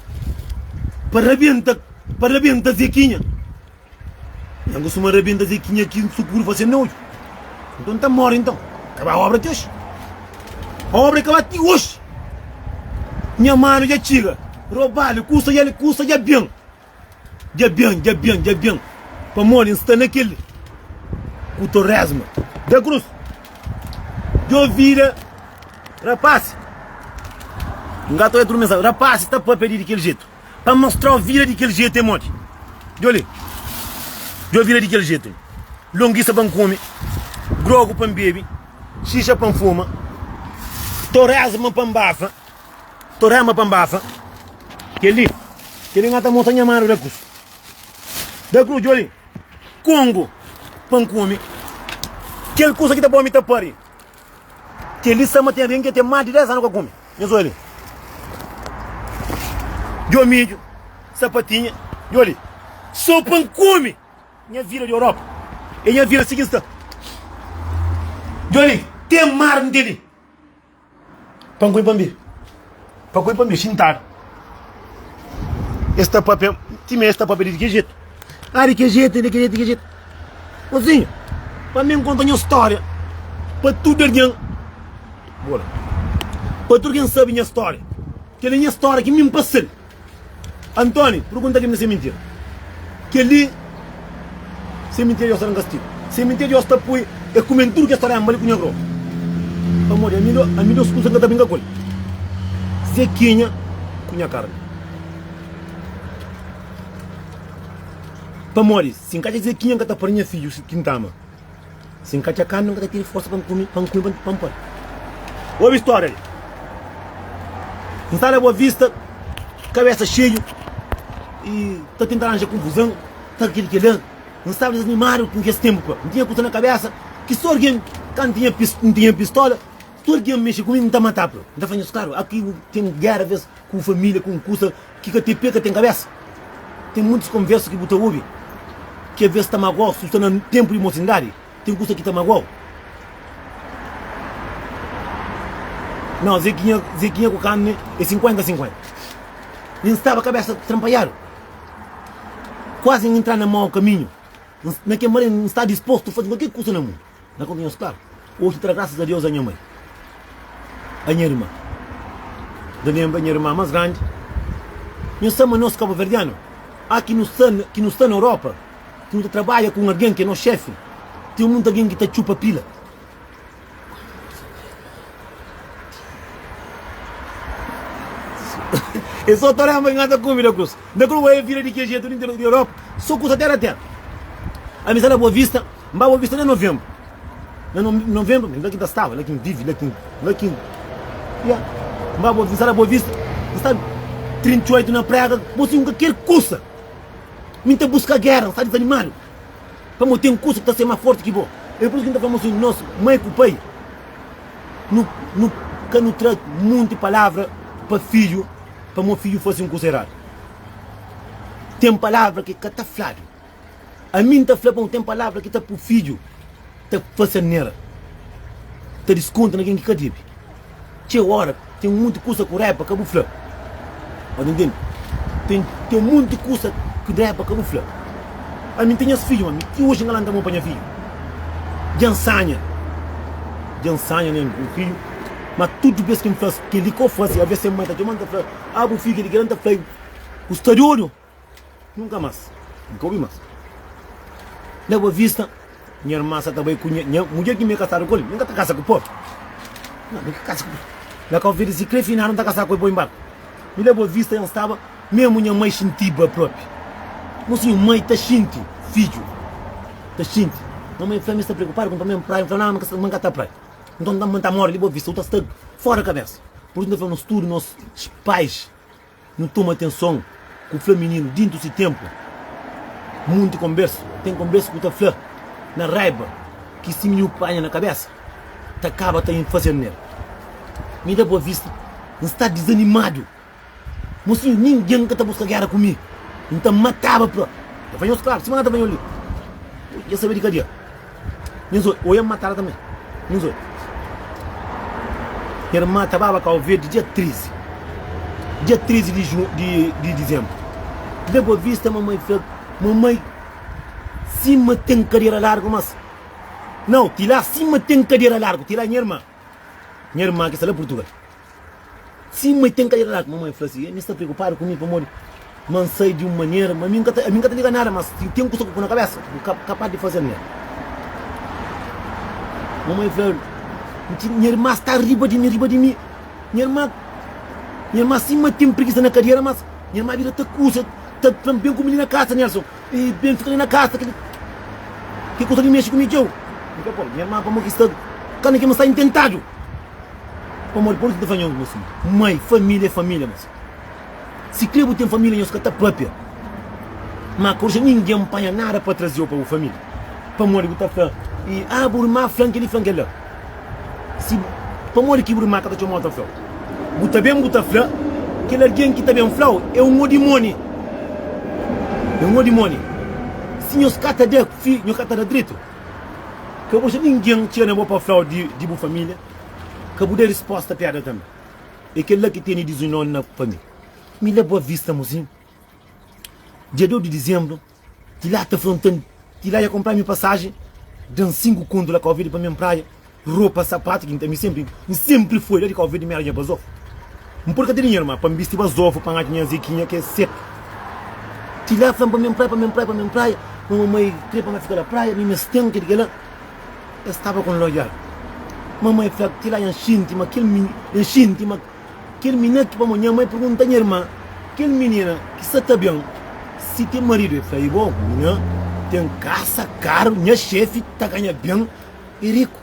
Pa rabenta pa rabenta Zekinha Nha gosi ma rabenta Zekinha Ki N sukuru fase N odju Nton N ta móre nton Kaba óbra ti oxi Pa óbra kaba ti oxi Nha manu dja txiga Robadu kusa dja kusa dja ben. Dja ben, dja ben, dja ben Pamodi N sta na kel ku torresma da krus Djo vida, rapasi N ka ta oja tudu mensajen Rapasi ta pâpia di di kel jetu Pa mostra-u vida di kel jetu é modi Djo li Djo vida di kel jetu Longisa pa N kume Drogu pa N bebe Xixa pa N fuma Torresma pa N bafa Torema pa nbasa Kel-li Kel-li N ata mostra nha manu Da krus Da krus Djoli Kongo pa N kume Kel kusa ki ta pô-mi ta pâria Kel-li sta ma ten rinki N ten más di dés anu ka kume Nhos oja li Djo midju Sapatinha Djoli Sô pa N kume Nha vida di Europa É nha vida si ki N sta Djoli Ten mar N ten li Pankui pa mi. Pankui pa mi xintadu. Es ta papia, ti mé es ta papia di ke jetu. Ah, di ke jetu, di ke jetu, di ke jetu. Mozinhu, pa mi nkonta nha storia pa tudu algen. Bora. Pa tudu algen sabi nha storia. Keli nha storia ki mi npasal. Antoni, purgunta ki mi na seminteru. Kel-li seminteru Diós ta da-m kastigu. Seminteru Diós ta poi e kume-m tudu kes tarénba li ku nha gropa. Pamodi ami da, ami da-s kuza ki N ka ta brinka ku el, zekinha ku nha karni. Pamodi si N ka atxa zekinha, N ka ta pari nha fidju si tinta-ma. Si n ka txa kami, n ka ta tiri forsa pa n kume, pa n kume pa n poi. Obi storia li. N sta na Boa Vista, kabesa xeiu i ta tenta ranja konfuzan, ta kili kila. N staba disanimadu ku kes tenpu pa. N tinha kusa na kabesa ki so algen ka n tinha pis, n tinha pistola, so algen mexe ku mi, n ta mata pa. N ta fla nhos klaru, aki ten gera vez ku familia, ku kusa Ki ka ten pé ka ten kabésa. Ten muntis konversa ki bu ta obi ki avés ta magua-u. Si bu sta na tenpu di mosindadi, ten kusa ki ta magua-u. Nau, Zekinha, Zekinha ku Kanne é sinkuénta sinkuénta. N staba kabésa tranpaiadu, kuazi N intra na mau kaminhu. N, na kel mari, N sta dispostu faze kualker kusa na mundu. Na ka konhece claro. Oji ta da graças a Deus a nha mãe, a nha irmã. Da lembra nha irmã mas grande, nhu sa ma nos kabuverdiano a ki nu sta ki nu sta na Europa ki nu ta trabadja ku un algen ki é nos xefe ten mutu algen ki ta txupa pila. E so ta lembra nhu anda kumida ku es. Na kru ê vida di ke jetu di interior di Europa so kusa tera tera ami sa la boa vista n ba boa vista na novembro na novembro mi la ki ta staba la ki n vivi la ki n la ki n ya n ba boa sa la boa vista n sta 38 na prega bo si un ka ker kusa mi n ta buska gera n sta disanimadu pamo ten kusa ki ta ser ma forti ki bo e pur isu ki n ta fla mo sin nos mai ku pai nu nu ka nu tra munti palavra pa fiju. pa mo fidju faze un kuza eradu. Ten palavra ki ka ta fladu. Ami N ta fla bon, ten palavra ki ta pui fidju ta fase anera, ta diskonta na ken ki ka debe. Txeu ora ten munti kusa ku raiba ka bu fla. Bo ta ntende? Ten, ten munti kusa ki raiba ka bu fla. Ami N ten nhas fidju, ma ami ti oji N ka lanta mon pa nha fidju. Dja N sanha, dja N sanha na nha fidju, ma tudu bes ki N fla-s. Kel di k'o faze avés se mai ta txoma-m ta fla Ah bu figi di ki el N ta fla-u ku sta di odju Nunka más N ka obi más Na bo vista Nha irman sa ta bai ku nha nha mudjer Ki mi é kasadu ku el Mi ka ta kasa ku po Nah mi ka kasa ku po Na ka oferesi si kre finadu N ta kasa ku el po inbarku Mi la bo vista N staba Memu nha mai xintiba propi Mo si nha mai ta xinti fidju ta xinti Nha mai fla-m N sta preokupadu ku N pa-m N praia N fla-l Nah ma N ka ta praia. Nton N ta manda-m ta móre di bo vista, u ta sta fóra di kabésa. Pur isu, N ta fla nos tudu, nos pais, nu toma atenson ku fla mininu dintu si ténpu. Munti konbérsu ten konbérsu ku ta fla na raiba ki si mininu panha na kabésa ta kaba ta infasiadu na el. Mi da bo vista, N sta dizanimadu Mo si ningen ka ta buska gera ku mi, N ta mataba pa el faña un skravu sima na ta faña li. Bo dja sabe di kadia. Nhos oi, oi N matara tanbe. Nhos oi. Nha irma ta baba kau verdi dia 13, dia 13 di ju, di, di dizenbru. Leba bo vista, mamai fla, Mamai, sima ten kadera largu, mas. Nau, ti la sima ten kadera largu, ti la nha irma. Nha irma ki sta la Purtugal. Si ma i ten kadi raladu, mamai fla si, mi sta preokupadu ku mi pamodi ma N sai di un manera, ma mi ka, mi ka ta liga nada. Ma si ten kusa ku pui na kabesa, bu ka kapaz di faze nel. Mamai fla, Nti, nha irma sta riba di mi, riba di mi. Nha irma, nha irma si ma ten prigisa na kadera, mas nha irma bira ta kusa, ta fla-m, Ben ku mi li na kasa, Nelson. Ei, ben fika li na kasa, kel, kel kusa li mexe ku mi txeu. N fla, Pô, nha irma, pamodi ki sta, kanda ki ma sta intentadu. Pamodi pamodi ki nu ta fla nhos gosi? Mai, família é família gosi. Sikrê bu ten família, nhos ka ta pâpia. Má ka odja ningen panha nada pa traze-u pa bu família, pamodi bu ta fla, i, a bu irman fla-m kel-li, fla-m kel-la. Si bu, pamodi ki bu irman ka ta txoma-u ta fla-u? Bu ta ben, bu ta fla, Kel algen ki ta ben fla-u é un odimóni. É un odimóni. Si nhos ka ta da, fi, nhos ka ta da dretu. Ka bu xa ningen txia na bo pa flau di bu familia. Ka bu da risposta piada tambi. E kela ki teni dizunion na familia. Mi la Boa Vista Musin, dia deu di dizembru, ti la ta frontan, ti la ya kompra mi pasaji, dan sinku kontu la ka ovi di pa mi en praia. Ropa, sapatu ki N ten mi senpri N senpri foi la di Cabo Verde mi aranja pa Zof N purka ti dinheru ma pa N bisti ba Zof pa N atxa nha Zekinha ki é seku Ti la fla-m pa mi N praia pa mi N praia pa mi N praia ma mamai krê pa mi fika la praia mi mestén ke di kela el staba ku N lojal mamai fla ti la nha xinti ma kel mini nha xinti ma kel mina ki pamo nha mai purgunta nha irma kel minina ki sa ta ben si ten maridu el fla i bo mina ten kasa karu nha xefi ta ganha ben i riku.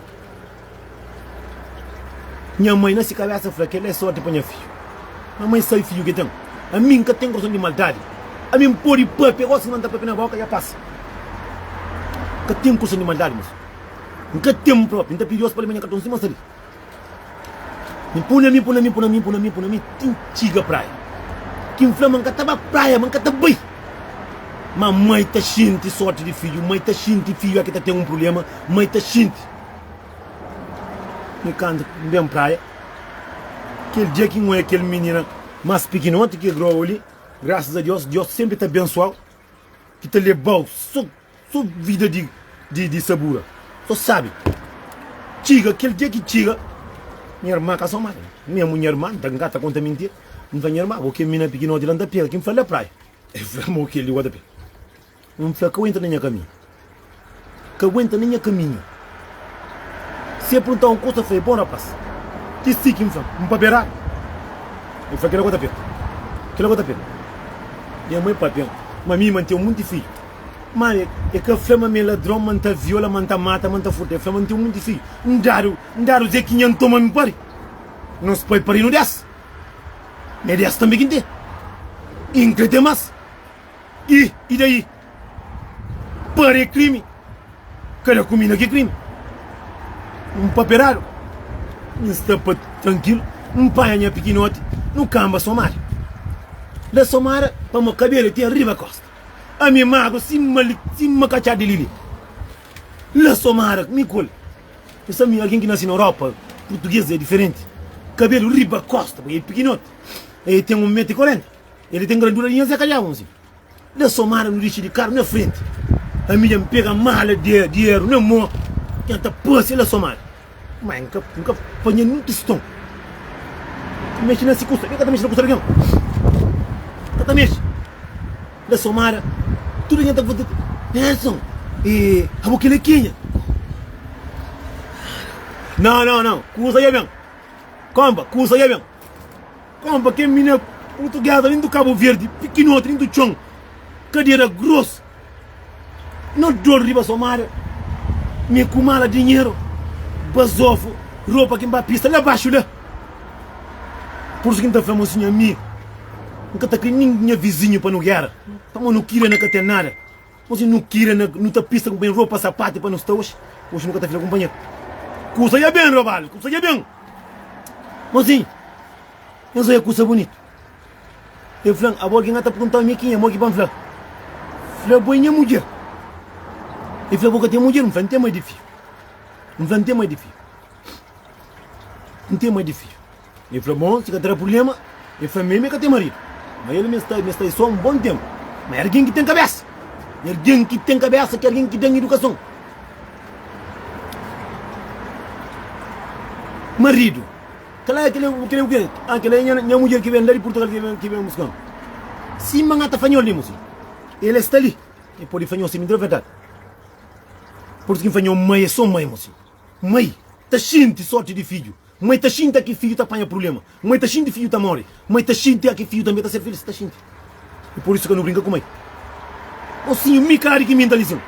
Nha mai na si kabésa fla, Kel-la é sórti pa nha fidju. Má mai sabe fidju ki el ten? Ami N ka ten korson di maldadi. Ami N pode pape gosi ki ma N ta pape na bóka, dja pasa. N ka ten korson di maldadi, mas N ka ten-m própi. N ta pidi Deus pa el ma nha ka ta un sima sali. N pula mi, pula mi, pula mi, pula mi, pula mi, ti N txiga praia. Ki N fla ma N ka ta ba praia, ma N ka ta bai. Má mai ta xinti sórti di fidju, mai ta xinti fidju a ki ta ten un prubléma, mai ta xinti. N kantu N ben praia, kel dja ki N odja kel minina más pikinoti ki Grow li, grasas a Deus, Deus senpri ta abensuau, ki ta lebau so. So vida di di sabura so sabe txiga kel dia ki txiga nha irma ka so mal nha mu nha irma nta nka ta konta mintir N fla nha irma bo kel mina pikinoti la N ta pega ki N fla la praia el fla mo kel li bo ta pega N fla ka aguenta na nha kaminhu ka aguenta na nha kaminhu. Si el pergunta-m un kuza, N fla el, Bon rapás, ki si ki N fla-m? N papia-ra? El fla, Kila ku N ta fla-m, kila ku N ta fla-m. Nha mai papia-m ma mi N ten monti fidju. Má el ka fla-m ma mi é ladron, ma N ta viola, ma N ta mata, ma N ta furta. El fla-m ma N ten monti fidju. N dadu, N dadu zé ki nha N toma mi pari. Nos pai pari-nu dés. N é dés tanbê ki N ten. I N krê ten más. I, i daí? Pare é krimi, kada kumida ki é krimi. N paperadu, N sta pa trankilu, N panha nha pikinoti, nu kanba somada. Da somada pa mo kabela ti ariba kosta. Ami magru sima li, sima katxá di lili. N da somada ku mi kole. Nu sta mi algen ki nase na Europa, purtuges é diferenti. Kabelu riba kosta, pui el pikinoti. El ten un metu y korenta, el ten grandura di nha Zé Kalhau, un si. Dja somada nu dixi di karu na frenti ami dja pega mala dineru na mo dja ta pase la somada mai n ka panha nen tiston mexi na si kusa mi ka ta mexi na kusa di algen ka ta mexi la somada tudu algen ta fla nelson abo kila ki nha nan nan nan kusa dja ben konba kusa dja ben. Konpa ken mi na purtuguesa nin do cabo verde pikinoti nin do txon kadera gros no dor riba somada mi ku mala dinheru bazofo ropa kin ba pista la baxu la pursu kin ta fla mo si nha amigu nka ta kri nin nha vizinhu pa no gera pamo no kira na ka ten nada. Oji nu kira na nu ta pista ku ben ropa sapati pa nu sta oji oji nu ka ta fika kunpanheru kusa ya ben robal kusa ya ben oji nhos oja kusa bunitu e flan abo algin a ta pergunta mi kin e mo ki ban fla fla bo e nha mudjer e fla bo ka ten mudjer n fla n ten mai di fiju n fla n ten mai di fiju n ten mai di fiju El fla, Bon, si ka ta da prubléma, el fla, Mi mi ka ten maridu. Má el mi sta mi sta sô un bon ténpu. Má é algen ki ten kabésa. I algen ki ten kabésa ki algen ki ten idukason. Maridu, Kal é kel-li? Kel-li é o kê? Ah, kel-li é nha nha mudjer ki ben la di Purtugal ki ben ki ben buska-m. Sima N ata fanhol li, mosi. El sta li. El pode fanhol sima. N ta da verdadi. Purtu ki N fanhol mai é sô mai, mosi. Mai ta xinti sórti di fidju. Kuma e ta xinti a ki fidju ta panha prubléma? Kuma e ta xinti fidju ta móre? Kuma e ta xinti a ki fidju tanbê ta ser filhus ta xinti? I pur isu ka nu brinka ku mai. Mosinhu, mi ka adiki mi nta lison.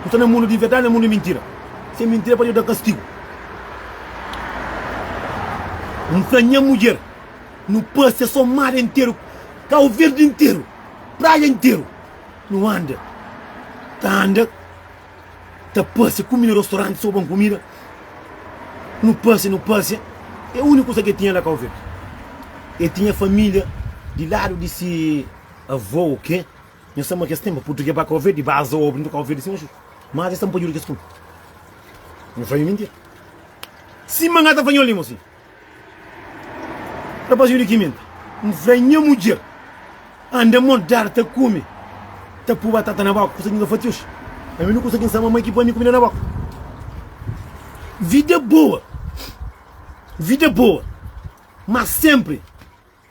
Nu sta na mundu di verdadi, na mundu di mintira. Si é mintira é pa Deus da kastigu. N fla nha mudjer, nu pâsia sô mar interu, Kau Verdi interu, praia interu. Nu anda, ta anda. ta pâsia kumida rostoranti sô bon kumida nu pâsia nu pâsia é úniku kuza ki el tinha la kau verdi el tinha família di ladu di se avô ô ke nhos sta ma kes tenba purtuge ba kau verdi ba aza ô brinka kau verdi sima xu ma aza el sta npa djuda kes kume nhos fla mi mintira sima nha ta fla nhos li mosi. Rapazinhu di Kiminda, N fla nha mudjer, Anda modar ta kume, ta pui batata na boka, kusa ki N ka fatius. Ami nu konsigi N sa mamai ki pui ami kumida na boka. Vida é boa, vida é boa, má sénpri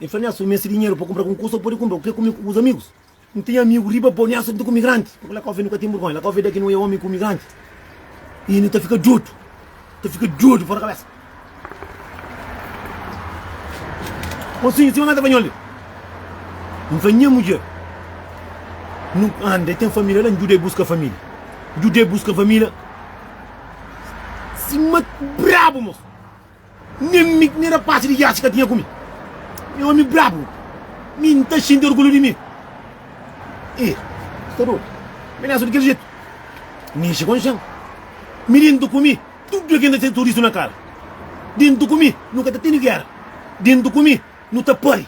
N fla, Nelson, N meste dinheru pa kunpra algun kuza ô pode kunpra ku ke kume ku bus amigus? N ten amigu riba bo, Nelson, nu ta kume granti. Pabia Lakofe nu ka ten burgonha. Lakofe da ki nu é omi kume granti i nu ta fika dodu, ta fika dodu fora kabesa. Mosinhu, sima mesa panhol li. N fla, Nha mudjer, nu anda, el ten família la, N djuda el buska família. N djuda el buska família sima brabu, mosu. Nen mi nen rapaz di iate ka tinha ku mi. Mi omi brabu, mi N ta sinti orgulhu di mi. I sta dodu, mi nasa di kel jetu. N ninxi konxan. Mi dentu ku mi tudu algen ta ser sorisu na kara. Dentu ku mi nu ka ta tene gera. Dentu ku mi. Nu ta pâ-l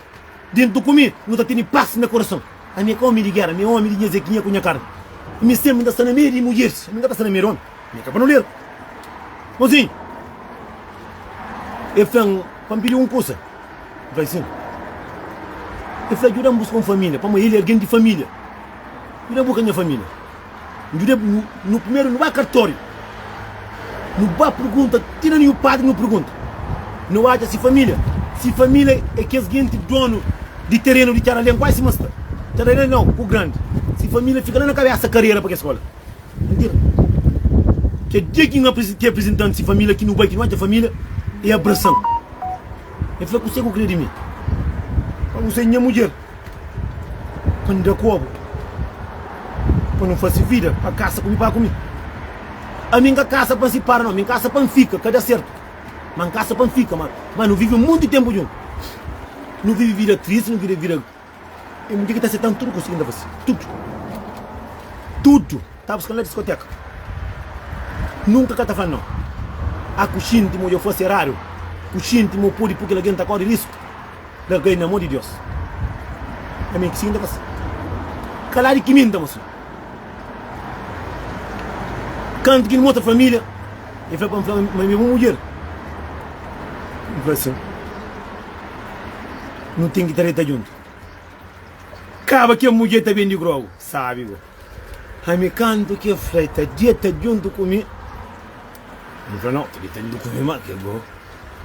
déntu ku mi, nu ta tene pas na korason. Ami é ka ómi di géra, mi é ómi di nha zekinha ku nha karni. Mi sénpri N ta sta na meiu di mudjeris, ami N ka ta sta na meiu di ómi. Ami é ka panoleru. Monsinhu, el fla-m pa N pidi-u un kusa. N fla-l, Sin. El fla, Djuda-m buska un família, pamodi el é algen di família. Nu da bu ka nha família. N djuda-bu bu. Nu primeru nu ba kartóriu. Nu ba pergunta ti na nhu padri nu pergunta. Nu atxa si família. Si família é kes genti dónu di terenu di Txaralén, kuazi sima sta. Txaralén nau, ku grandi. Si família fika la na kabésa karera pa kes skola. N tira. Kel dia ki N apresen ki aprezentan-m si família, ki nu bai ki nu atxa família, e abrasa-m. E fla, Kuse ku krê di mi? N fla, Kuse nha mudjer. Pa N da kobu pa nu fase vida Pa kasa ku mi pa ku mi Ami N ka kasa pa N sipara no Mi N kasa pa N fika ka da sertu Ma N kasa pa N fika ma Ma nu vive munti tenpu djun Nu vive vida tristi nu vive vida E mudjer ki ta setan tudu kusa ki N ta fase Tudu Tudu Ta buskan la diskoteka Nunka ka ta fla no A ku xinti ma dja fase eradu Ku xinti ma pudi pui kel algen ta kori risku. Larga-i na mô di Deus. Ami ki sibi N ta fase. Kala di ki mi N ta mostra. Kantu ki N mostra família, el fla pa mi fla ma el é bu mudjer. N fla sin. Nu ten ki ta reta djuntu. Kaba kel mudjer ta ben di Grogu, sábi go. Ami kantu ki el fla, el ta djeta djuntu ku mi, mi fla, nau, ta djeta djuntu ku mi má, kel-li bo.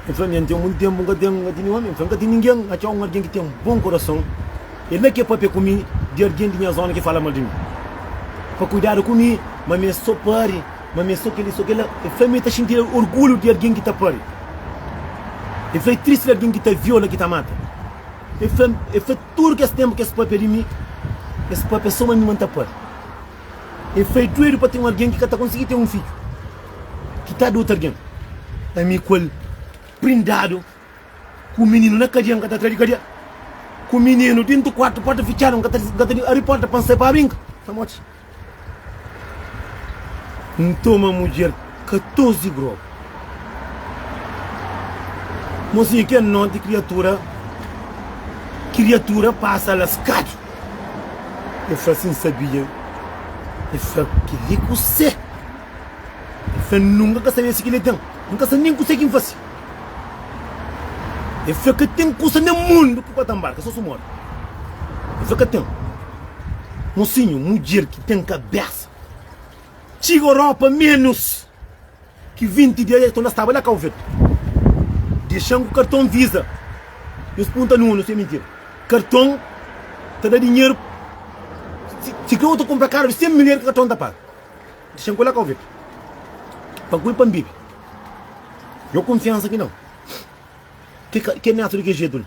El fla, ami, N ten monti ténpu N ka ten di ninhun ami. Mi fla, N ka ten ningen. N atxa un algen ki ten bon kurason, el na ke pâpia ku mi di algen di nha zóna ki fala mal di mi, pa kuidadu ku mi, ma mi é sô pari, ma mi é sô kel-li, sô kel-la. El fla, ami ta xinti orgulhu di algen ki ta pari. El fla, é tristi di algen ki ta viola, ki ta mata. E fla-m, E fla tudu kes ténpu ki es pâpia di mi, es pâpia sô ma mi ma N ta pâ-l. E fla, E duedu pa ten un algen ki ka ta konsigi ten un fidju, ki ta da otu algen. Ami ku el prindadu, ku mininu na kadia, N ka ta tra di kadia, ku mininu déntu kuartu, pórta fitxadu, N ka ta di ari pórta pa N sai pa brinka. Pamodi. N toma mudjer katozi grogu. Mozinhu kel noti kriatura kriatura pasa laskadu. El fla si N sabia. El fla keli kuse. El fla N nunka ka sabia si keli ten. N ka sabe nen kuse ki N fase. El fla ka ten kusa na mundu ki bu ka ta nbarka so su mori. El fla ka ten. Mosinhu, mudjer ki ten kabésa txiga Europa ménus ki 20 dia, ki un da staba la Cabo Verde. Dexa-m ku karton Visa. Nhos punta nu, nhos fla é mintira. Karton ta da dinheru, sikrê u ta kunpra karu di 100 milher ki karton ta paga. Dexa-m ku el la Cabo Verde pa ku el pa N bebe. Nhô kunfiansa ki nau. Ke netu di ke jetu la.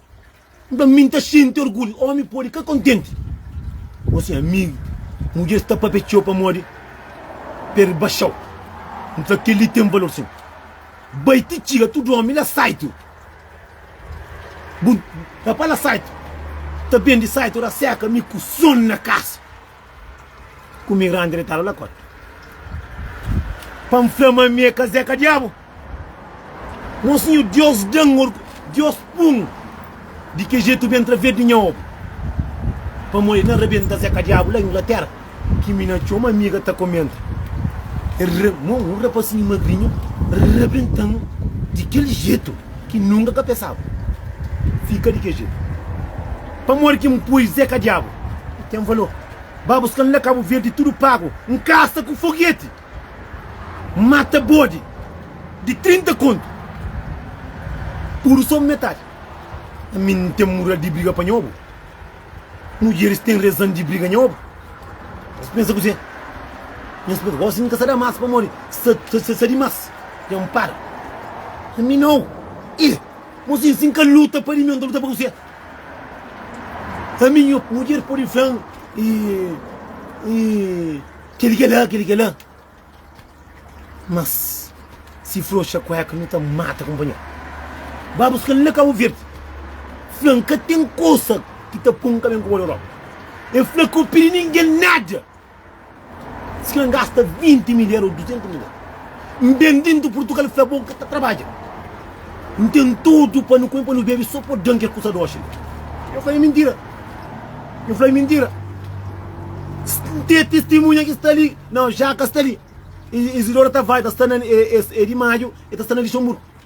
N ta mi N ta xinti orgulhu Ómi pode ka kontenti Ô se amigu Mudjer sta pâpia txeu pamodi perde Baxa-u N fla kel-li ten valor sin Bai ti txiga tudu ómi la saitu Bu rapá la saitu Ta ben di saitu ra seka mi ku son na kasa Ku mi randi retadu la kótu Pa N fla ma mi é kazéka diabu Mon Sinhor Diós da-m orgu Diós pun di ke jetu ben tra vedi nha obu Pamodi na rabenta kazéka diabu la Inglatéra Ki mi na txoma amiga ta komenta El ra Mo un rapasinhu magrinhu rabenta-m di kel jetu ki nunka ka pensaba Fika di ke jetu Pamodi ki N pui zéka diabu i ten valor ba buskal na kabu verdi tudu pagu un kasa ku fogueti mata bodi di 30 kontu tudu so metadi ami n ten mural di briga pa nhobu mudjeris ten rezan di briga nhobu nhos pensa kuzê nhos pensa gosi n ka sa da mas pamodi sa sa dimas ten un para ami nau i mosi si n ka luta pa di mi un ta luta pa kuzê. Ami nha mudjer pode fla-m kel i kel la, kel i kel la Mas si froxa kuéka nu ta mata kunpanheru Ba buska-l na Kabu Verdi Fla-m ka ten kusa ki ta pô-m ka ben ku bo na Europa E fla ka bu pidi ningen nada Si kel gasta 20 mil era o 200 mil era N ben dintu purtugal fla bo N ka ta trabadja N ten tudu pa nu kume pa nu bebe so po dan kel kusa doxi li Yo fla e mintira Yo fla e mintira N ten testimunha ki sta li Nau Jaka sta li Izidora ta vai ta sta na e di maju e ta sta na lixonburu.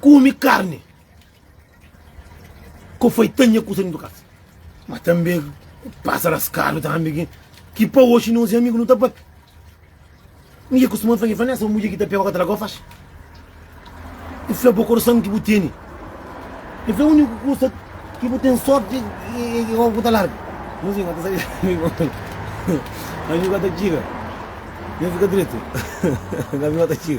kume karni ku foi tanha kusa dentu kasa ma tanbe ku pasa raskadu tanbe ki ki pa oxi nos i amigu no ta papia mi ke kustuma fla ki fla nesa mudjer ki ta pega oca ta larga o faxi i fla bo korson ki bu tene i fla uniku kusa ki bu ten sorti i oca ku ta larga nos i kota sabe ami kota txiga ami fika triste ami kota txiga